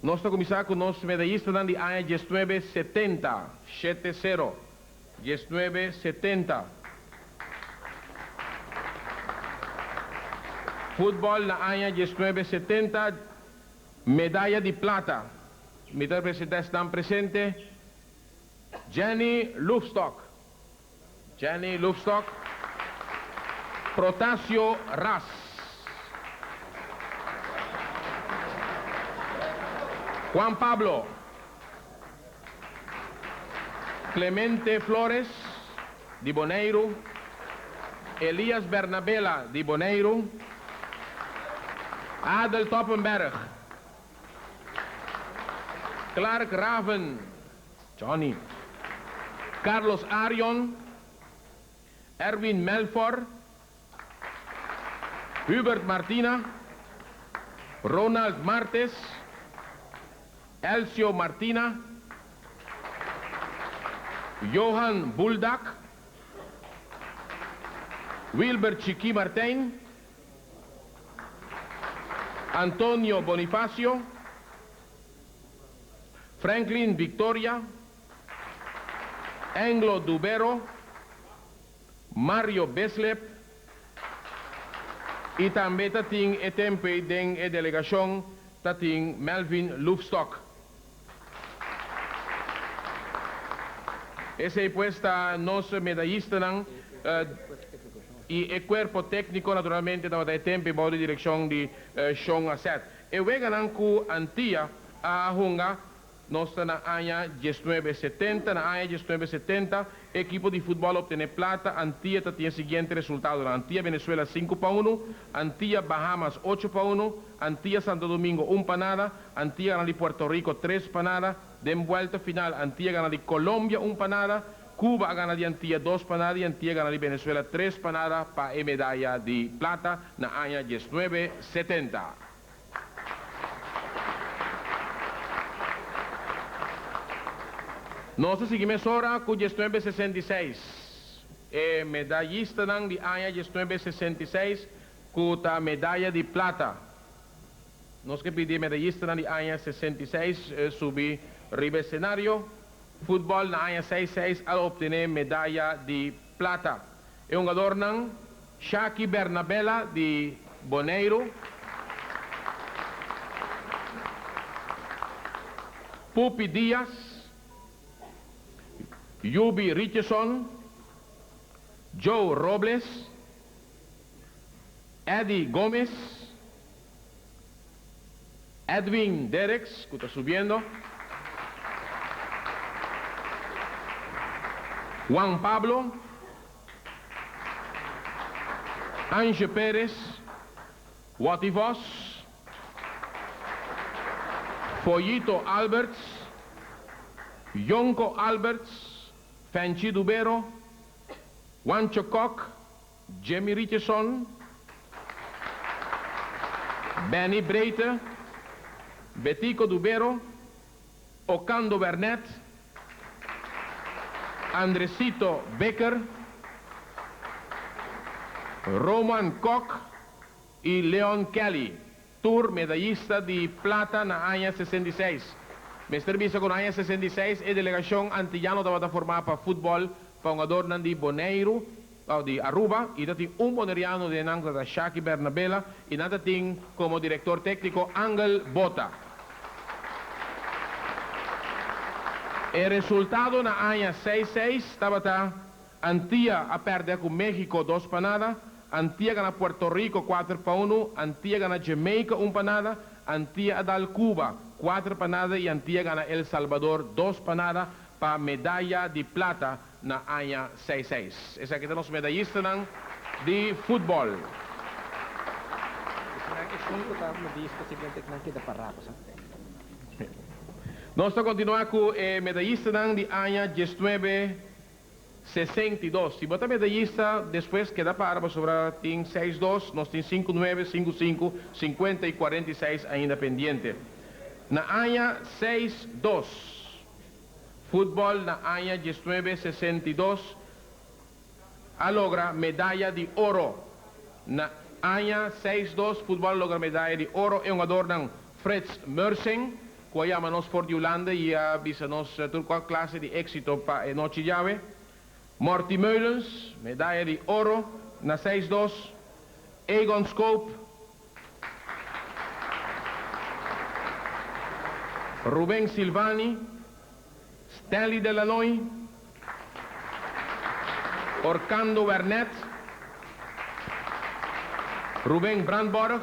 Nos ta kuminsá ku nos medayistanan di aña diesnuebe setenta, shete sero, diesnuebe setenta. Futbòl na aña diesnuebe setenta, medaya di plata. Mi ta presentá esnan presente, Jenny Lufstock. Jenny Lufstock, Protasio ras. Juan Pablo, Clemente Flores, di Boneiru, Elias Bernabela, di Boneiru, Adel Toppenberg, Clark Raven. Johnny, Carlos Arion, Erwin Melfor, Hubert Martina, Ronald Martes, Elcio Martina, Johan Buldak, Wilber Chiki Martijn, Antonio Bonifacio, Franklin Victoria, Anglo Dubero, Mario Beslep y tambe ta tin e tempe den e delegacion ta tin Melvin Loofstock. Esey pues ta nos medayistanan y e cuerpo tecnico naturalmente tabata e tempe bao di direccion di Sean Asset. E weganan ku Antia a hunga nos ta na aña diesnuebe setenta. Na aña diesnuebe setenta e ekipo di futbòl optené plata. Antia ta tin e siguiente resultadonan, Antia Venezuela sinku pa unu, Antia Bahamas ocho pa unu, Antia Santo Domingo un pa nada, Antia gana di Puerto Riko tres pa nada. Den buèlta final Antia gana di Kolombia un pa nada. Cuba a gana di Antia dos panada y Antia gana di Venezuela tres panada pa e medaya di plata na aña diesnuebe setenta. Nos ta sigui mesora cu diesnuebe sesenta y seis. E medayistanan di aña diesnuebe sesenta y seis cu ta medaya di plata. Nos ke pidi e medayistanan di aña sesenta y seis subi riba e scenario. Futbol na aña seis seis al optené medaya di plata e hungadornan Shaki Bernabella di Boneiru, Pupi Diaz, Yubi Richardson, Joe Robles, Eddy Gomez, Edwin Dereks cu ta subiendo. Juan Pablo. Ange Perez, Watty Vos. Foyito Alberts, Jonko Alberts, Fenchi Dubero, Juancho Kok, Jemmy Richardson, Benny Breite, Betico Dubero, Ocando Wernet, Andresito Becker, Roman Kok i Leon Kelly. Tur medayista di plata na aña sesenta i seis. Mester bisa ku na aña sesenta i seis e delegashon antillano tabata formá pa futbòl pa hungadornan di Boneiru, aw di Aruba, i ta tin un boneriano den nan ku ta Shaki Bernabela i nan ta tin komo direktor tékniko Angel Bota. E resultado na aña seis seis tabata Antia a pèrdè ku México dos pa nada, Antia gana Puerto Rico kuater pa unu, Antia gana Jamaica un pa nada, Antia a dal Cuba kuater pa nada i Antia gana El Salvador dos pa nada pa medaya di plata na aña seis seis. Esaki ta nos medayistanan di futbòl. Nos ta kontinuá ku e medayistanan di aña diesnuebe sesenta i dos. Si bo ta mete ysta despues keda para bo sobra tin seis dos, nos tin sinku nuebe, sinku sinku, sinkuenta i kuarenta i seis ainda pendiente. Na aña seis dos, futbòl na aña diesnuebe sesenta i dos a logra medaya di oro. Na aña seis dos, futbòl a logra medaya di oro. E hungadornan Frits Meursing, cu a yama nos for di Hulanda y a bisa nos tur cual clase di exito pa e nochi djawe. Morty Meulens, medaya di oro na seis dos. Egon Schoob, Ruben Silvani, Stanley Delanoy, Orkando Wernet, Ruben Brandborg,